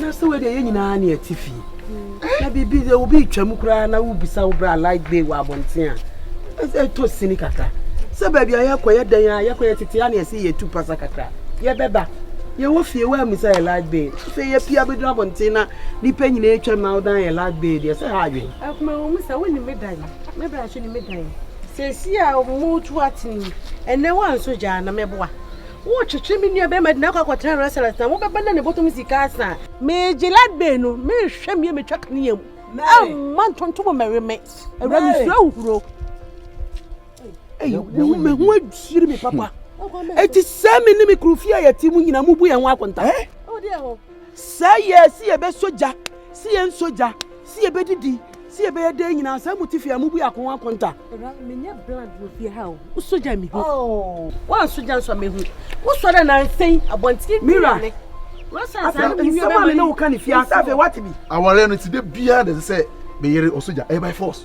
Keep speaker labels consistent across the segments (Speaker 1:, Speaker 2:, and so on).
Speaker 1: na sɛ wei deɛ yɛ nyinaa ne ati fi na biribi sɛ obi twam koraa na wobisa wo bra light bay wɔ abɔnten a ɛtɔ sini kakra sɛ baabi a yɛkɔ yɛ dɛn a yɛkɔ yɛ tete a ne ɛsɛ yɛtu pasa kakra yɛbɛba yɛwɔ fie wɔ amisa yɛ light bay sɛ yɛpia bɛduru abɔnten na nipa nyinaa twam na wodan yɛ light bay deɛ sɛ ha adwen akoma wɔ mu sɛ wonim me dan me bra so ne me dan sɛsi a motu atene ɛnɛ woanso gyaa na mɛboa Worekyekyere me nuabarima de no akɔ akɔtena restaurant na wobɛba na ne bɔtɔ mu sika asa a. Me Gillad bee no, merehwɛ me a metwa kanea mu. Mary! Mma ntontom mmɛwe me. Awuraa mesuro ahuhuro. Ei, wo me ho adwiri me papa. Enti sɛ me ne me kunu fie a yɛte mu nyinaa mubu yɛn ho akonta? Wo deɛ ho. Sɛ yɛ se yɛbɛsɔ gya, se yɛnsɔ gya, se yɛbɛdidi, se yɛbɛyɛ dɛn nyinaa, sɛ mote fie a, mobue akono akonta. Ɛra, menyɛ bland wɔ fie ha o, wosɔ gya a mehu. Oo, woansɔ gya nso a mehu. Wosɔ dɛ nansa yi, abɔntene bi na ne. Mira, afei nsɛm a me ne wo ka no fie ha, sɛ afei woate bi. Awareɛ no nti, da biara na ɛsɛ sɛ me yere ɔsɔ gya, ɛyɛ by force.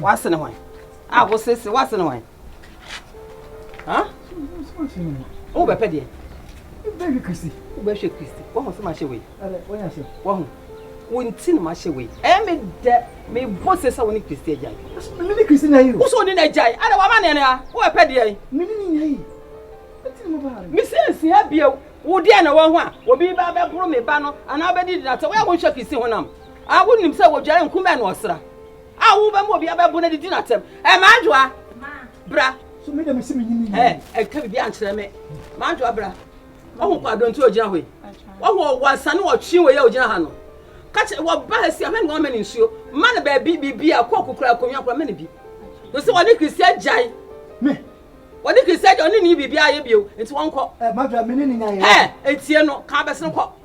Speaker 1: wase ne hwan a wosese wase ne hwan wobɛpɛ deɛ wobɛhwɛ kristi wobɛhwɛ kristi wahu sɛ mahyɛ wei wahu wo nti na mahyɛ wei ɛyɛ me dɛ mebɔ se sɛ wo ne kristi agyae mene kristi na yi wo sɛ ɔne no agyae ada wama ne ɛnea wobɛpɛ deɛ mene ne nya yi mesinsia bio wo deɛ na wahu a obi ba bɛboro me ba no anaa wobɛdi dinatɛ woyɛ wonhwɛ kristi honam A wonim sɛ wodware nku mmɛn no ɔsra a wo bɛma obi abɛbo na didi no atɛm ɛ madwoa bra so me dɛm si me nyini ɛ ɛka bibi ankyerɛ me madwoa bra ɔho kɔ adonti ogyina hɔ yi ɔho ɔwɔ asane ɔtwe wɔ yɛ ogyina ha no kakyɛ wɔ ba ha si ahwɛ ne wɔn mɛ ne nsuo ma ne baabi bibi a kɔ kukura akonnwa kora mɛ ne bi no sɛ wɔne kristian gyae me wɔne kristian gyae ɔne ne bibi ayɛ bio nti wɔn kɔ ɛ madwoa me ne ne nyaayɛ ɛ etie no kan bɛsene kɔ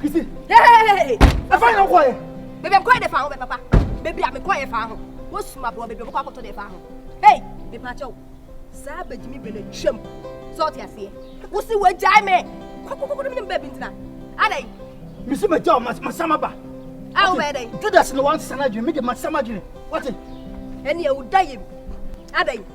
Speaker 2: Kisi. Hey! Ɛfa yɛn kɔ yɛ.
Speaker 3: Bebe kɔ yɛ de fa ho
Speaker 2: bɛ papa. Bebe a me kɔ yɛ fa ho. Wo suma bɔ bebe kɔ akɔtɔ de fa ho. Hey! Me pa kyɛw. Saa bɛgyimi bɛ na twam. Sɛ ɔte aseɛ. Wo si wo agyae me. Kɔkɔkɔkɔ ne baabi ntina. Adɛn? Me si magyaw
Speaker 3: masam aba. A wo bɛyɛ dɛn?
Speaker 2: Judas na wansesa
Speaker 3: n'adwene. Me de masam adwene. Wate? Ɛne ɛwo da
Speaker 2: yɛ bi. Adɛn?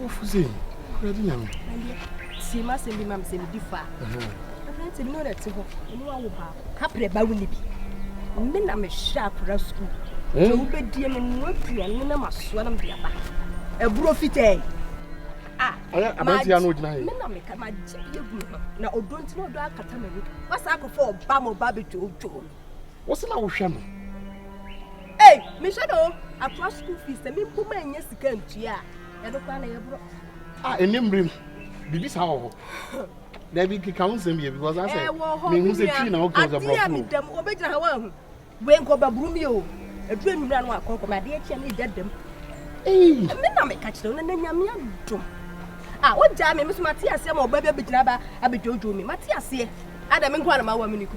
Speaker 3: Wofo sei, Awurade Nyame. Ɛndeɛ, tie
Speaker 2: m'asɛm bi ma me sɛ medi fa. Aberante bi na ɔna te hɔ, ɔne wawo baako. Kaprɛ ba wo ne bi. Me na mehwɛ akora sukuu. Sɛ hmm? wobɛdie me no aduane na masoa na mede aba. Aburo fitɛɛ.
Speaker 3: Ah, ɔyɛ aberante ya na ɔgyina hɛ. Me na meka magye bi
Speaker 2: agu me ho na ɔdɔ nti na ɔdɔ akata m'ani. Wasa akɔfa ɔba ma ɔba abɛdwoodwoo me. Wo se na wo
Speaker 3: hwɛ no.
Speaker 2: Ei me hwɛ no akoa school fees sɛ me mpo ma nyɛ sika ntua a ɛno koraa na yɛ borɔ. Ah ɛnɛ mmiri no
Speaker 3: biribi saa wɔ hɔ. Dabi keka ho nsɛm yɛ because asɛ me hu sɛ twi na wo kɛn sɛ borɔfo. Adeɛ mi dɛm obe gyina ha
Speaker 2: wɔn ahu. Wei nkɔ bɛburu mi o. Ɛduru enyimira no akɔ nkɔ mi adeɛ kyia mi da dɛm. Me na meka kyerɛ wo na na nyame adom a wogyaa me meso mate aseɛ ma ɔba bi abɛgyina ba abɛdwodwo me mate aseɛ ada me nkoa na mawa me ne ku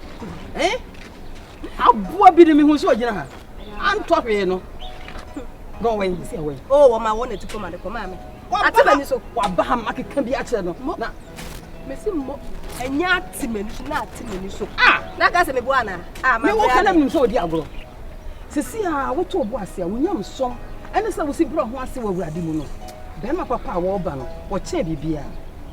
Speaker 2: eh?
Speaker 1: aboa bi ne mehu sɛ ɔgyina ha antɔ hwee no na ɔwɛn sɛ ɔwɛn o wɔma wɔ n'ati kɔma
Speaker 2: de kɔma me ate m'ani so waba ha makeka bi
Speaker 1: akyerɛ no na mesi mmɔ
Speaker 2: ɛnyɛ ate m'ani so na ate m'ani so ah! na ka sɛ meboa anaa ah, mewɔ ka na menim
Speaker 1: sɛ ɔdi agorɔ sisi a woto ɔbo ase a wonya msɔm ɛne sɛ wosi berɛ ho ase wɔ awurade mu no bɛrima papa a wɔreba no wɔkyɛɛ biribiaa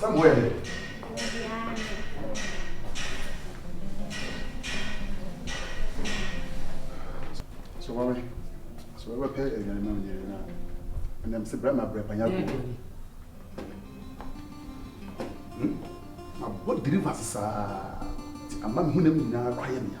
Speaker 4: Sɛ boɛ de. So wame so wame pɛ ɛnyɛ ne nam nyere na ɛnam sɛ brɛ ma brɛ panya ko abɔ diri va sesaa ti ama me ho nam nyinaa kɔ ayɛ mea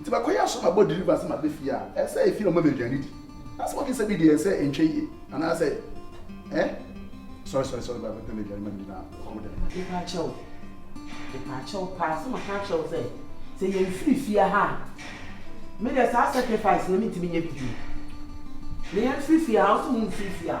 Speaker 4: Nti mɛkɔyɛ aso mabɔ deliver sɛ maba fie a ɛsɛ sɛ efie na wɔma me aduane di. Na sɛ wɔkisa bi deɛ ɛsɛ sɛ ɛntwa yie anaasɛ eh sorry sorry sorry bra bɛpɛ m'aduane ma me di na kɔ wo dɛm. Mepa kyɛ wo mepa kyɛ wo paa sɛ maka
Speaker 1: akyerɛ wo sɛ sɛ yɛnfiri fie ha a me deɛ saa sacrifice no mentumi nyɛ bi bio. Na yɛnfiri fie ha a wose wonfiri fie a.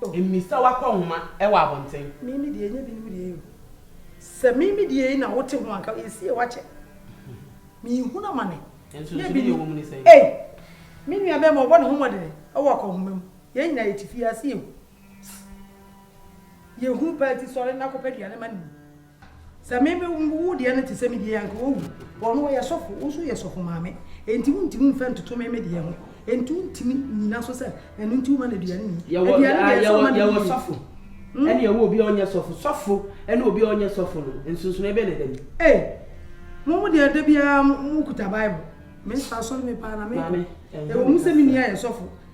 Speaker 1: Mmisa w'akɔnhoma wɔ abɔnten. Me me deɛ ɛnyɛ binom
Speaker 5: deɛ o. Sɛ me me deɛ yi na wote ho anka ɛsie w'akyɛ. Menhunu amane nyɛ binom
Speaker 1: ei. Me nua
Speaker 5: bɛɛma ɔbɔ ne ho mmɔdene wɔ akɔnhoma mu. Yɛn nyinaa yɛte fie ha sɛ yɛhu. Sss yɛhu paa nti sɔre na kɔpɛ aduane ma no nni. Sɛ me me wo deɛ no te sɛ me deɛ anka wawu. Ɔno ɔyɛ sɔfo, wo nso woyɛ sɔfo maame. Enti wontumi mfa ntoto me me deɛ ho. Enti wontumi nnyina so sɛ ɛno nti woma no aduane nni. Yɛwɔ Aduane deɛ ah ɛsɛ yɛwɔ ɔma
Speaker 1: no yɛwɔ yie. sɔfo ɛne yɛwɔ obi a ɔnyɛ sɔfo. Sɔfo ɛne obi a ɔnyɛ sɔfo no nsonsonoɛ bɛn na ɛda mu? Ei! Mo
Speaker 5: mo deɛ da biara mo kuta Bible. Me nso asɔre me paa na mekɔ. Maame, ɛnyɛ Ɛwɔ me mu sɛ
Speaker 1: me kasa.
Speaker 5: nua yɛ sɔfo.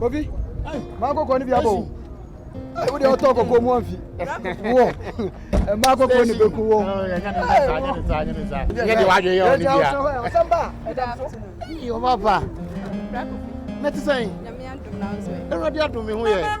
Speaker 6: Obi, maa kɔkɔɔ ni bi abɔ o. Ee, wo de ɔtɔ kɔkɔɔ mu anfi. Wɔ, maa kɔkɔɔ ni bɛ kun wɔ. Yɛ de wa adwene yɛ ɔni bia. Ɔsɛn ba, ɛda so. Yɛ ɔba ba. Mɛ ti sɛn. Ɛwurade adum mi ho yɛ.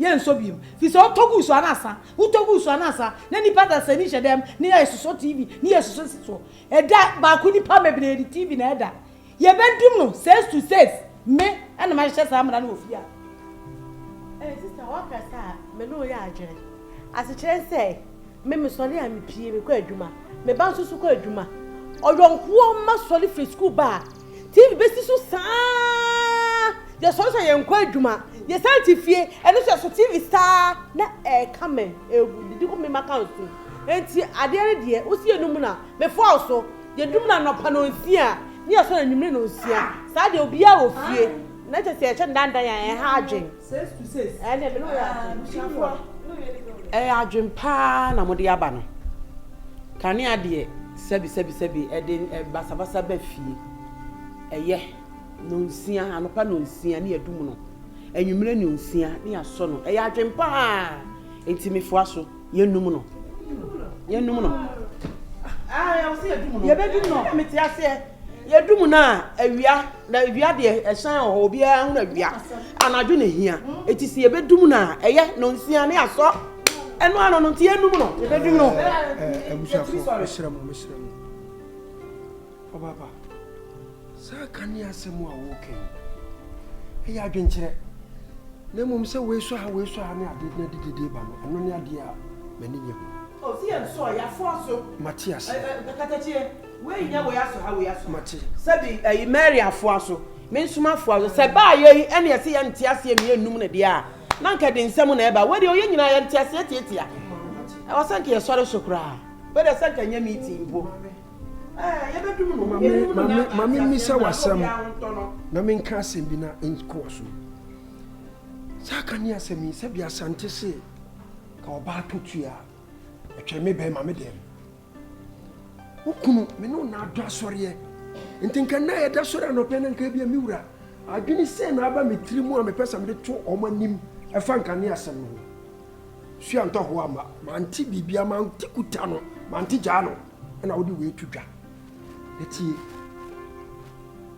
Speaker 5: Yɛnsɔ bio firi sɛ wotɔ guu so anasa, wotɔ guu so anasa na nipa dasani hyɛ dɛm ne yɛ sosɔ TV ne yɛ sosɔ si soɔ. Ɛda baako nipa bebree de TV na ɛda. Yɛbɛ dum no says to says me ɛna mahyehyɛ saa mmara no wɔ fie ha. Ɛɛ sista waka saa a me ne wo yɛ adwene. Asekyerɛ ne sɛ Me mesɔre a mepie mekɔ adwuma. Me ba nso so kɔ adwuma. Ɔyɔnkoɔ mma sɔre firi sukuu ba a, TV bɛsi so saa. Yɛsɔre sɛ yɛnkɔ adwuma. Yɛsan te fie, ɛno nso yɛsɔ TV saa na ɛreka me, ɛredidi kɔ me ma ka nsu. Enti adeɛ no deɛ, wosi yɛnum no a, mefɔɔl so. Yɛdum no anɔpa nnɔnsia ne yɛsɔre anwummere nnɔnsia. Saa deɛ obiara wɔ fie na kyerɛ sɛ yɛhyɛ ndandan a, ɛha adwene. Ɛyɛ
Speaker 1: adwen paa na mode aba no kanea deɛ sɛbi sɛbi sɛbi ɛde basabasa ba fie ɛyɛ nonsia anopa nonsia ne yɛdum no anwummerɛ nonsia ne yɛasɔ no ɛyɛ adwen paa nti mefoa so. yɛnum no yɛnum no yɛbɛdum no na mete aseɛ yɛdum no a awia na awia deɛ ɛhyɛn wɔ hɔ obiara ho na awia anadwo na hia ɛti sɛ yɛbɛdum no a ɛyɛ no nsia ne asɔ ɛno ano no nti yɛnum no yɛbɛdum no eh, eh, eh, abusuafoɔ
Speaker 7: mesrɛ mo mesrɛ mo Ɔbaaba, saa ka ne asɛm a woreka yi, ɛyɛ adwenkyerɛ. Na mmom sɛ wei sɔ ha, wei sɔ ha ne ade na de dede ba no, ɛno ne adeɛ a m'ani nnye ho. O, sɛ yɛnsɔ a,
Speaker 1: yɛafoa so. Mate ase. Ɛ, ɛ,
Speaker 7: katakyeɛ,
Speaker 1: wei nyɛ wei asɔ ha, wei asɔ ha. Mate. Sɛbi,
Speaker 7: ɛyi, Mary
Speaker 1: afoa so, me nso mafoa so. Sɛ ɛbaa yei yi, ɛnneɛ sɛ yɛnte aseɛ ne yɛnnum no deɛ a, na anka ɛde nsɛm na ɛba. Wei deɛ, o, yɛn nyinaa yɛnte aseɛ tiatia. Ɛwɔ sɛ anka yɛsɔre so koraa. Wei deɛ, sɛ anka ɛnyɛ meeting mpo. ma memmisa
Speaker 7: w'asɛm na menka asɛm bi na nkɔɔ so saa ka ne asɛm yi sɛbi asante se ka ɔbaa to tua ɛtwɛn me bɛn ma me dɛm wo kunu me ne ɔna adɔ asɔreɛ nti nka nna yɛda sɔre anɔpɛ no nka bia me wura adwene sɛ na aba me tiri mu a mepɛ sɛ mede to ɔma anim ɛfa nka ne asɛm no ho suantɔ ho ama mante biribia mante kuta no mante gyaa no na wode wei to dwa. Na tie,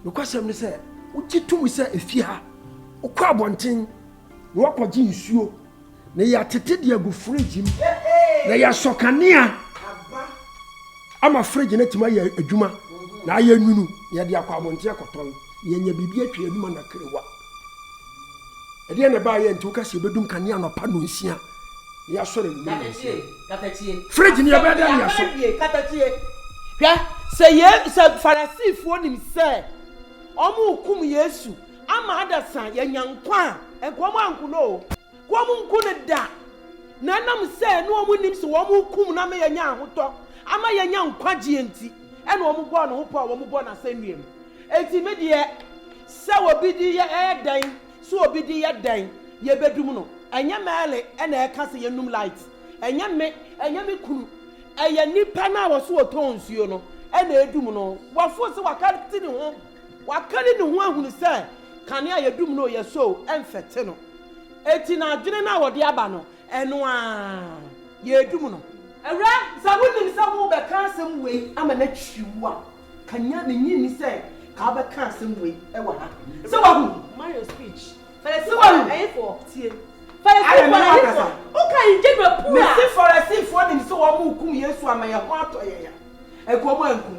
Speaker 7: nokwasɛm ne sɛ, wogye tom sɛ efi ha, wokɔ abɔnten na woakɔgye nsuo, na yɛatete de agu fridge mu, na yɛasɔ kanea ama fridge no atumi ayɛ adwuma, na ayɛ nwunu, na yɛde akɔ abɔnten akɔtɔn, na yɛanya biribi atwa yɛn anum anakrewa. ɛdeɛ na ɛbaa yɛ nti woka sɛ yɛbɛdum kane anɔpa no nsia na yɛasɔre anwummerɛ no nsia
Speaker 1: fridge no yɛbɛda
Speaker 7: ne yɛso
Speaker 1: hwɛ sɛ yɛ sɛ farisifoɔ nim sɛ wɔn rekum yesu ama adasa yɛnya nkwa a nkwa mu ankono o wɔnku no da, na ɛnam sɛ na wɔnnim sɛ wɔrekum no ama yɛanya ahotɔ, ama yɛanya nkwagyeɛ nti, ɛna wɔbɔɔ ne ho pɔ a wɔbɔ no asɛnnua mu. Enti me deɛ, sɛ obi de yɛ yɛ dɛn, sɛ obi de yɛ dɛn, yɛbɛdum no. Ɛnyɛ Merle na ɛka sɛ yɛnnum light, ɛnyɛ me, ɛnyɛ me kunu, ɛyɛ nipa no a ɔse ɔtɔn nsuo no na ɛdum no. Wafo sɛ wakate ne ho. Wakari ne ho ahunu sɛ kanea a yɛdum no yɛ so mfɛte no, enti n'adwene no a ɔde aba no, ɛno ara yɛredum no. Awuraa, sɛ wonim sɛ worebɛka asɛm wei ama no akyiri wo a, ka nya, minnye nni sɛ ka wobɛka asɛm wei wɔ ha. Sɛ wahu?
Speaker 5: Mind your speech. Sɛ wahu?
Speaker 1: Ayɛ me na makasa. Mese Farisifoɔ nim sɛ wɔrekum Yesu ama yɛn ho atɔ yɛn a, anka wɔankum.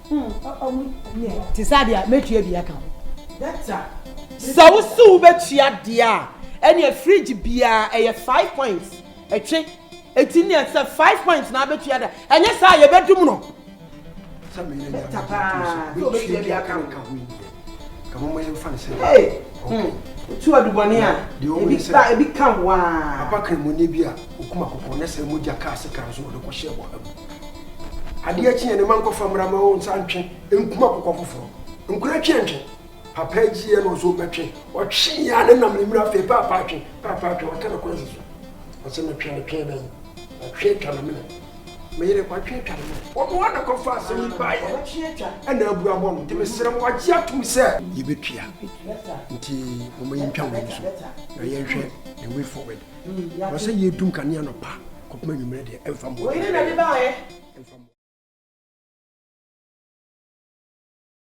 Speaker 5: Te saa deɛ a, mɛtua bi aka ho.
Speaker 1: Sɛ wo se wobɛtua deɛ a, ɛneɛ fridge biara ɛyɛ five points ɛtwe. Eti neɛ sɛ five points na abɛtua deɛ a, ɛnyɛ saa a yɛbɛdum no. Sɛ
Speaker 7: meyɛ nyame gye tom so, mɛtua bi aka ho. ɛho ma yɛmfa no sɛ hey
Speaker 1: wotu adubɔne a ebi ba ebi ka waa papa kramoni bi
Speaker 7: a okum akokɔ na sɛ mogya kaa se kan so na ɔde kɔhyɛ bɔha mu adeɛ akyi yɛ ne ma nkɔfa mmara ma wɔn nsa ntwe nkum akokɔ foforɔ nkura twe ntwe papa agyi yɛ na ɔsɛ ɔmɛtwe ɔtwe yɛ a ne nam ne mmiri afei paapa atwe paapa atwe waka ne kɔnsi so ɔsɛ metwe ne twe bɛn atwe atwa ne mene Me yere kɔtwe twa no mu. Ɔno ara na ɛkɔfa asɛm yi baeɛ. Ɛna abu abɔ no. Nti mesrɛ mo, wɔagye atom sɛ. Yɛbɛtua. Nti momma yɛntwa wei nso, na yɛnhwɛ the way forward. Ɛwɔ sɛ yɛdum kanea anɔpa kɔpem
Speaker 1: anwummerɛ
Speaker 7: deɛ, ɛmfa
Speaker 1: mmoa
Speaker 7: biara.